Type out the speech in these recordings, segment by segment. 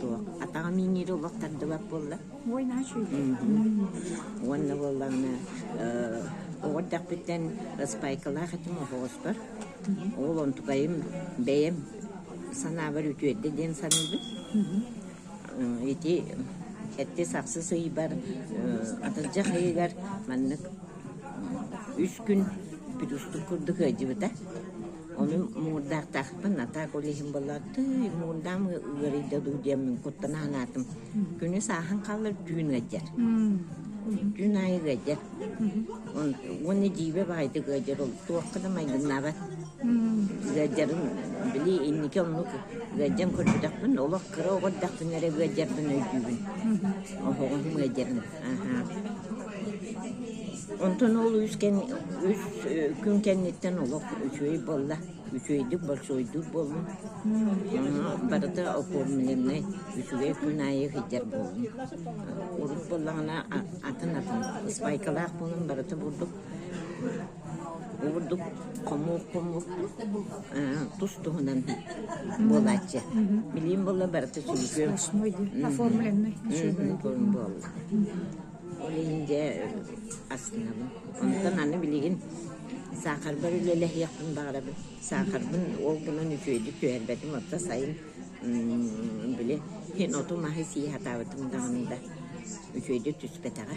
Туох атаҕа миинири олох тардыбат буолла? Уонна буоллаҕына оҕо эрдэхпиттэн спайкалаах этим оһоҕоспор. Ол онтукайым бэйэм санаабар үтүөрдэ диэн саныыбын. Ити эттис-ахсыс ыйбар атырдьах ыйыгар маннык үс күн петустук курдук ыалдьыбыта. Онон муурдаахтаахпын, а так олеһим быллардый, муурдаам ыарыйда дуу диэммин куттана санаатым. Күнү сааһын хаалар түүн ыадьар. Түүн аайы ыадьар. Уонна дьиибэ баайдык ыадьар ол туохха да майгыннаабат. Ыадьарын били инники оннук ыадьан көрбөтөхпүн, олох кыра оҕо эрдэхпин эрэ ыадьарбын өйдүүбүн. Оһоҕум ыадьарын. Онтон ол үс, кэн, үс күн кэнниттэн олох үчүгэй буолла. Үчүгэйдик большойдук буоллун. Барыта оформленнай үчүгэй күн аайы сылдьар буоллун. Урут буоллаҕына атын атын спайкалаах буолан барыта бурдук Ордук хомук-хомук тус туһунан буолааччы. Билим буолла барыта сүлгүөм. Оформленный. Буолла. Ол инде астынабын. Онтон аны билигин саахарбар үлэлэһиэхпин баҕарабын. Саахарбын ол гынан үтүөдүк түһэрбэтим, отто сайын били, һин оту маһы сии хатаабытым даҕаны да үтүөдүк түспэтэҕэ.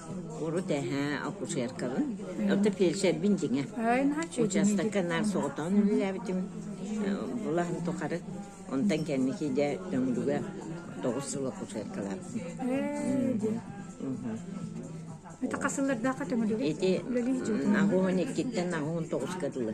Урут эһээ акушеркабын. Оттон фельдшербин дьиҥэ. Учаастакка наар соҕотоҕун үлэлээбитим. Былаһын тухары онтон кэнники дьэ Төҥүлүгэ тоҕус сыл акушеркалаабытым. Это хасыллардаахха төҥүлүгэ? Ити аҕуһун иккиттэн аҕуһун тоҕуска дылы.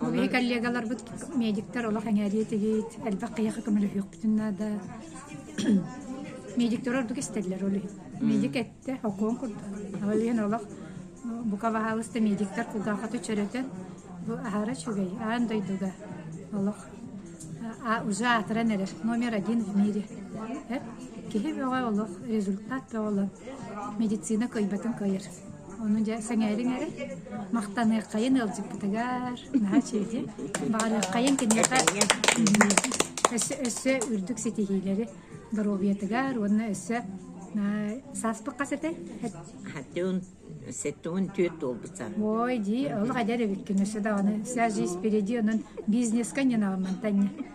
Мои коллегаларбыт медиктер олох эҥээриэ тигиит, элбэх кыйаха көмөлөһүөхпүтүн наада. Медиктер ордук истэллэр ол иһин. Медик этте, окуон курдук. Ол иһин олох бука баһаалыста медиктер кулгаахаты чөрөтөн бу аһара чүгэй, аан дойдуга олох а уже атыран эрэр номер один в мире. Киһи бөҕө олох, результат бөҕө олох медицина кыйбатын кыйыр. Ону дьэ сэҥээриҥ эрэ, махтаныаххайын ыалдьыппытыгар, наһаа чэйдиэн. Баҕарыаххайын киниэхэ өссө өссө үрдүк ситиһиилэри доруобуйатыгар уонна өссө сааспыкка сэтэр. Хатыун сетун түөрт буолбута. Ой, дии, олох эдэр эбиккин өссө даҕаны вся жизнь впереди онон бизнеска не наламантанне.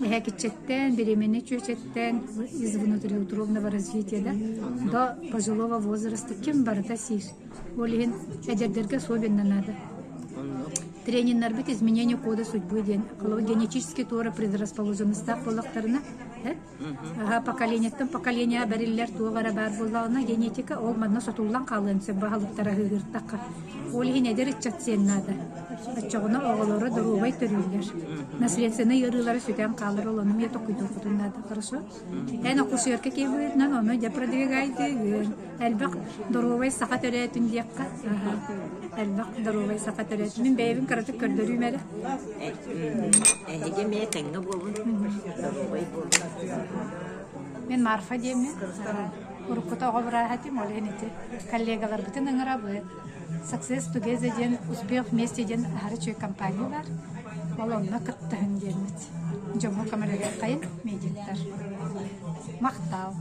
Эһэкиччэттэн, беременнай чүөчэттэн из внутриутробного развития да до пожилого возраста ким барыта сиир. Ол иһин эдэрдэргэ особенно надо. Тренердарбыт изменение кода судьбы диэн генетический туора предрасположенностаах боллохторуна аха поколениеттан поколение бэриллэр туох баар буоллаҕына генетика ол манна сотуллан хаалыан сөп баһылыктара Ол иһин эдэр ыччат сиэн наада. Оччоҕуна оҕолоро доруобай төрүүллэр. Наследственнай ыарыылара сүтэн хаалар, ол ону эмиэ токуйдуоххутун наада. Хорошо? Эн оккусуерка киэбиһиннэн, ону дьэ продвигайтыгын. Элбэх доруобай саха төрөөтүн диэххэ. Элбэх доруобай саха төрөөтүн. Мин бэйэбин кыратык көрдөрүүм эрэ. Эһиги эмиэ тэҥҥэ буолун, доруобай буолун. Мен Марфа диэм мен. Уруккута оҕо бырааһа этим, ол иһин ити коллегаларбытын ыҥырабыт. Success Together диэн «Успех вместе» диэн аһары үчүгэй компания баар. Ол онно кыттыһын диэммит. Дьоҥҥо көмөлөһүөххэйин, медиктар. Махтаал.